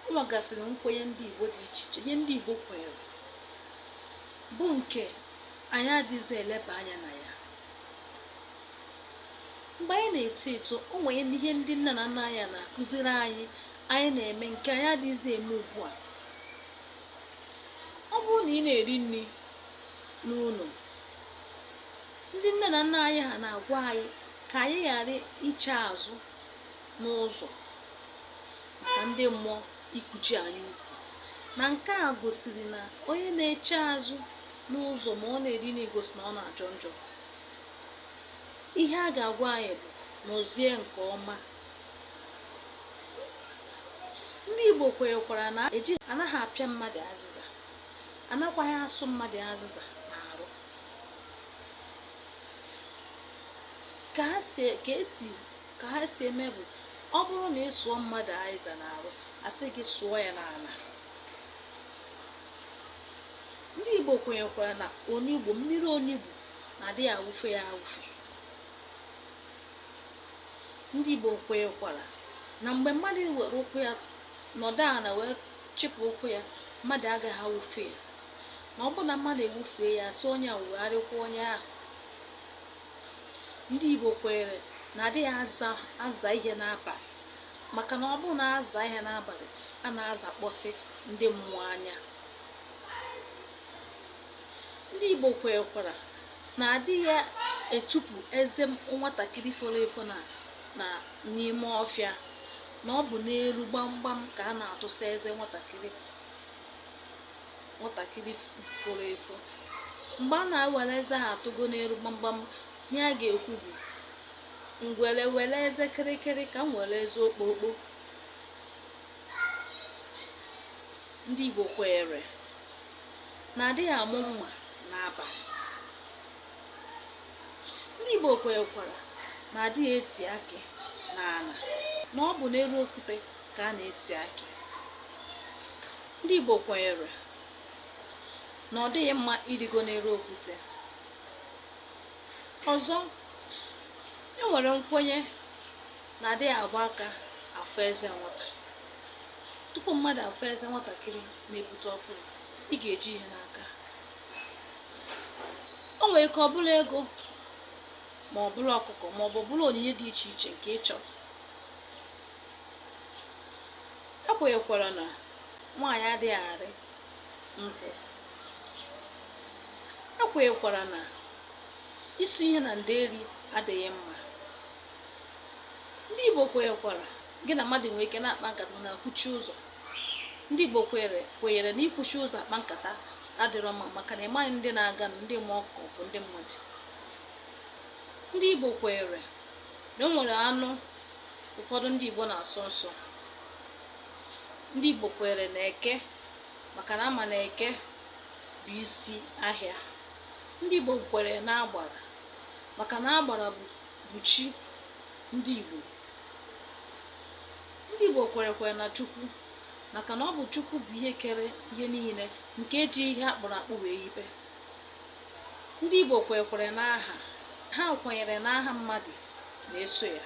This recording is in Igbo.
o nwegasịrị nkwenye ndị Igbo dị iche iche ihe ndị Igbo kwenyere bụ nke anyị adịghịzi eleba anya na ya mgbe anyị na-eto eto o nwere ihe ndị nna na nna anyị na-akụziri anyị anyị na-eme nke anyị adịghịzi eme ugbu a ọ bụrụ na ị na-eri nri n'ụlọ ndị nne na nna anyị ha na-agwa anyị ka anyị ghara iche azụ n'ụzọ maka ndị mmụọ ikuchi anyị ukwu na nke a gosiri na onye na-eche azụ n'ụzọ ma ọ na-eri nri na-egosi na ọ na-ajọ njọ ihe a ga-agwa anyị bụ nọzie nke ọma ndị Igbo kwenyekwara na eji anaghị apịa mmadụ azịza anakwaghị asụ mmadụ azịza n'arụ ka esi ka ha si eme bụ ọ bụrụ na ị sụọ mmadụ azịza n'arụ asị gị sụọ ya n'ala ndị igbo kwenyekwara na onugbu mmiri onugbu na adịghị awụfe ya awụfe ndị igbo kwenyekwara na mgbe mmadụ were ụkwụ ya nọdụ ala wee chịpụ ụkwụ ya mmadụ agaghị awụfe ya na ọ bụrụ na mmadụ awụfee ya a sị onye a wụgharịkwa onye ahụ ndị Igbo kweere na adịghị aza aza ihe n'abalị maka na ọ bụrụ na aza ihe n'abalị a na-azakpọsị ndị mmụọ anya ndị Igbo kwerekwara na adịghị etupu eze nwatakịrị foro efo na na n'ime ọfịa na ọ bụ n'elu gbamgbam ka a na-atụsa eze nwatakịrị nwatakịrị foro efo mgbe a na-ewere eze ahụ atụgo n'elu gbamgbam ihe a ga-ekwu bụ ngwere were eze kịrịkịrị ka m were eze okpokpo ndị Igbo kweere na adịghị amụ mma n'abalị ndị Igbo kwerekwara na adịghị eti akị n'ala na ọ bụ n'elu okwute ka a na-eti akị ndị Igbo kwenyere na ọ dịghị mma ịrịgo n'elu okwute ọzọ e nwere nkwenye na adịghị agba aka afụ eze nwata tupu mmadụ afụ eze nwatakịrị na-epute ọfụrụ ị ga-eji ihe n'aka o nwere ike ọ bụrụ ego ma ọ bụrụ ọkụkọ ma ọ bụ bụrụ onyinye dị iche iche nke ị chọrọ e kwenyekwara na nwaanyị adịghị arị nkwụ e kwenyekwara na ịsụ ihe na nderi adịghị mma ndị igbo kwenyekwaraghị na mmadụ nwere ike na-akpa nkata na-akwụchi ụzọ ndị igbo kwenyere na ịkwụchi ụzọ akpa nkata adịrọ mma maka na ị maghị ndị na-aga na ndị mmụọ ka ọ bụ ndị mmadụ ndị igbo kwenyere na o nwere anụ ụfọdụ ndị Igbo na-asọ nsọ ndị Igbo kwere na eke maka na a ma na eke bụ isi ahịa ndị Igbo kwere na agbara maka na agbara bụ chi ndị Igbo ndị Igbo kwerekwere na Chukwu maka na ọ bụ Chukwu bụ ihe kere ihe niile nke ji ihe a kpụrụ akpụ wee yibe ndị Igbo kwekwere n'aha ha kwenyere na aha mmadụ na-eso ya